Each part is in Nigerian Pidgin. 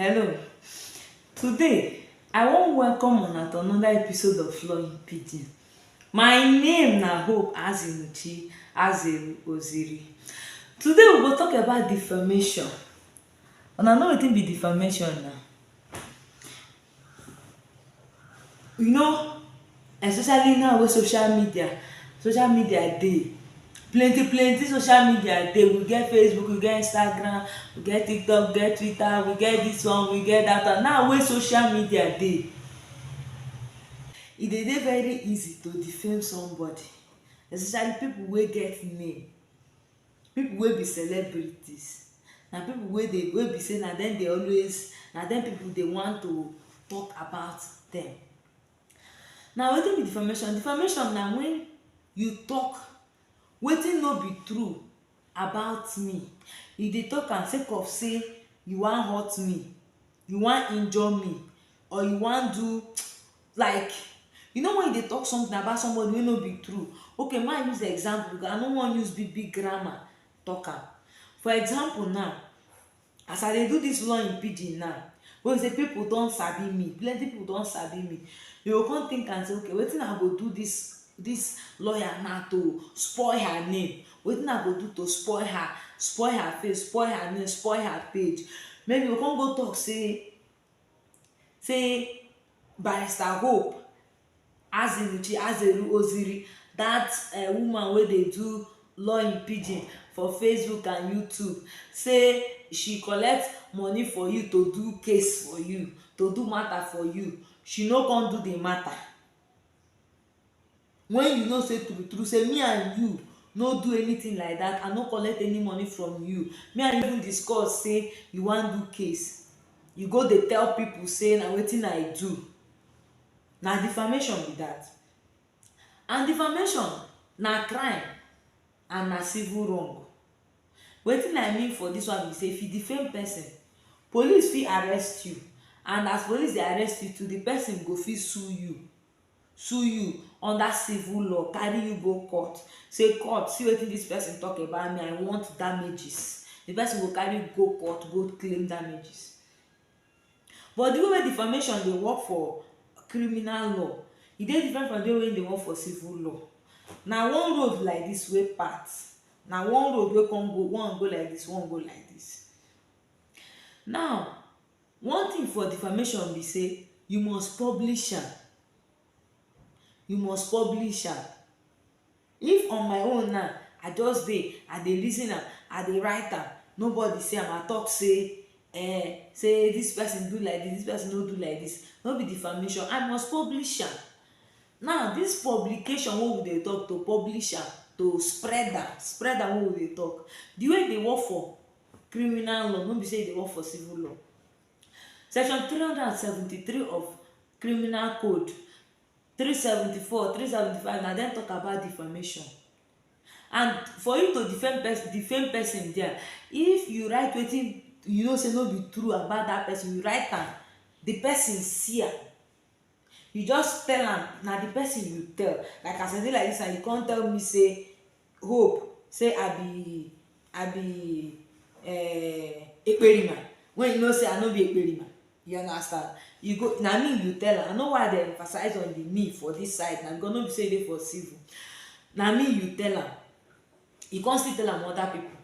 Hello, today I wan welcome una to another episode of Flowing Pidgin. My name na Hope Azimuchi Azeru Oziri. Today we go talk about defamation. Una know wetin be defamation na? You know especially now wey social media social media dey plenty plenty social media dey we get Facebook we get Instagram we get TikTok we get Twitter we get this one we get that one now wey social media dey e dey dey very easy to defame somebody especially people wey get name Pipu wey be celebrities na pipu wey dey wey be sey na dem dey always na dem pipu dey want to talk about dem. Na wetin be defamation? Defamation na wen you talk wetin no be true about me. You dey talk am sake of sey you wan hurt me. you wan injure me or you wan do like you know when you dey talk something about somebody wey no be true okay ma use example because I no wan use big big grammar talk am for example now as I dey do this law in pidgin now wey be say people don sabi me plenty people don sabi me dey go come think am say okay wetin I go do this this lawyer now to spoil her name Wetin I go do to spoil her, spoil her face, spoil her name, spoil her page? Maybe you go come go talk say say Barrister Hope Azimuchi Azeru Oziri, that eh woman wey dey do law in pidgin for Facebook and YouTube say she collect money for you to do case for you, to do matter for you, she no come do the matter. when you know say true true say me and you no do anything like that i no collect any money from you me and you even discuss say you wan do case you go dey tell people say na wetin i do na defamation be that and defamation na crime and na civil wrong wetin i mean for this one be say if you defame person police fit arrest you and as police dey arrest you too the person go fit sue you sue you under civil law, carry you go court sey court see wetin dis person talk about me I want damages, di person go carry you go court go claim damages. But di way wey defamation dey work for criminal law e dey different from di way wey dey work for civil law. Na one road like dis wey part, na one road wey come go, one go like dis, one go like dis. Now One thing for defamation be say you must publish am, you must publish am. If on my own now, I just dey, I dey reason am, I dey write am, nobody see am, I talk say um say this person do like this, this person no do like this, no be defamation? I must publish am. Now, this publication wey we dey talk, to publish am, to spread am, spread am wey we dey talk, the way e dey work for criminal law no be say you dey work for civil law section three hundred and seventy three of criminal code three seventy four three seventy five na dem talk about defamation and for you to defame person defame person there if you write wetin you know say no be true about that person you write am the person see am you just tell am na the person you tell like as i dey like this now you come tell me say hope say i be i be um ekperima when you know say i no be ekperima you understand you go na me you tell am i know why i dey emphasize on the me for this side na because no be say e dey for civil na me you tell am you come still tell am other people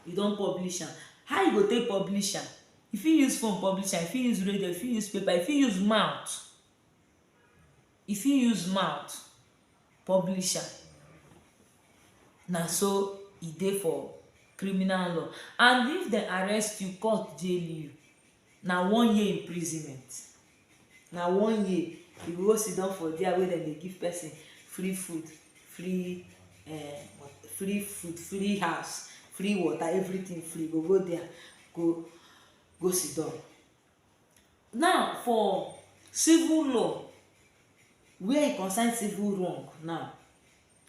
you don publish am how you go take publish am you fit use phone publish am you fit use radio you fit use paper you fit use mouth e fit use mouth publish am na so e dey for criminal law and if dem arrest you court jail you na one year imprisonment na one year you go go sit down for there wey dem dey give person free food free eh free food free house free water everything free you go go there go go sit down Now for civil law where e concern civil wrong now,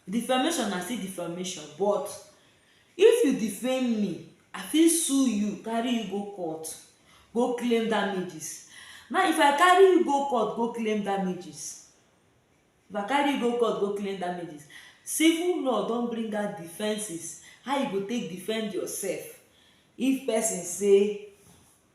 defamation na still defamation but if you defame me I fit sue you carry you go court go claim damages. Now if I carry you go court go claim damages if I carry you go court go claim damages, civil law don bring out defences how you go take defend yourself if person say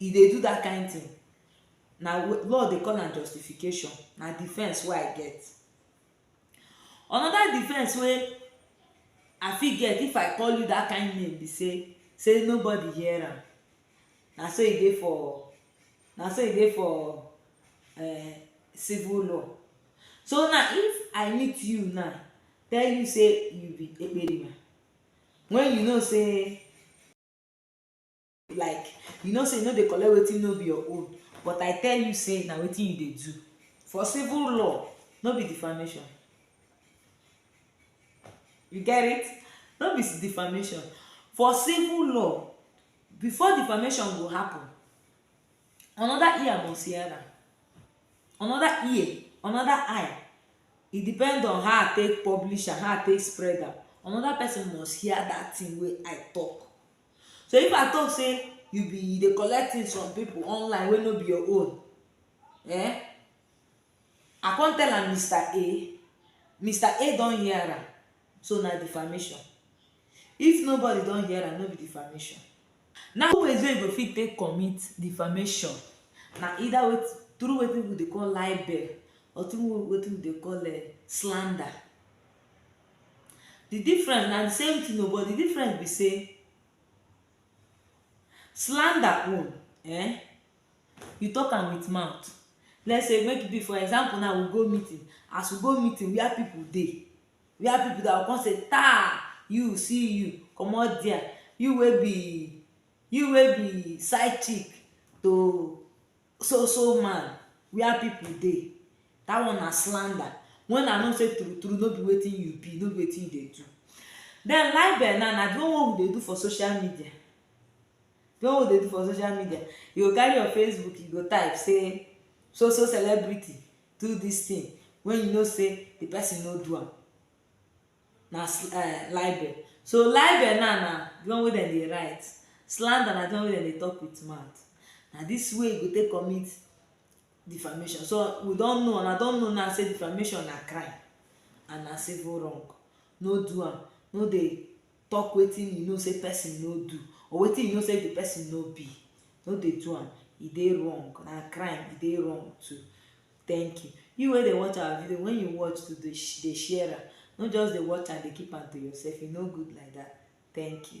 e dey do that kind thing na law dey call am justification na defense wey I get another defense wey I fit get if I call you that kind name be say say nobody hear am na so e dey for na so e dey for um civil law so now if I meet you now tell you say you be ekperima when you know say like you know say you no dey collect wetin no be your own but i tell you say na wetin you dey do for civil law no be defamation you get it no be defamation for civil law before defamation go happen another ear must hear am another ear another eye e depend on how i take publish am how i take spread am another person must hear that thing wey i talk So if I talk say you be you dey collect things from people online wey no be your own, eh, I come tell am Mister A, Mister A don hear am, so na defamation. If nobody don hear am, no be defamation. Now two ways wey you go fit take commit defamation na either wait through wetin people dey call libel or through wetin people dey call um slander. The difference na the same thing o but the difference be sey slander own um you talk am with mouth let's say make e be for example now we go meeting as we go meeting where people dey where people dey I go come say taa you see you comot there you wey be you wey be side chick to so so man where people dey that one na slander when I know say true true no be wetin you be no be wetin you dey do then libel now na the one wey we dey do for social media the one wey we dey do for social media you go carry your Facebook you go type say so so celebrity do this thing when you know say the person no do am na sl eh libel. So libel now na di one wey dem dey write, slander na di one wey dem dey talk wit mouth. Na dis way you go take commit defamation. So we don know, una don know now sey defamation na crime and na civil wrong. No do am, no dey talk wetin you know sey person no do or wetin you know sey di person no be. No dey do am, e dey wrong, na crime, e dey wrong too. Thank you. You wey dey watch our video, when you watch to dey dey share am, no just dey watch and dey keep am to yourself, e no good like that. Thank you.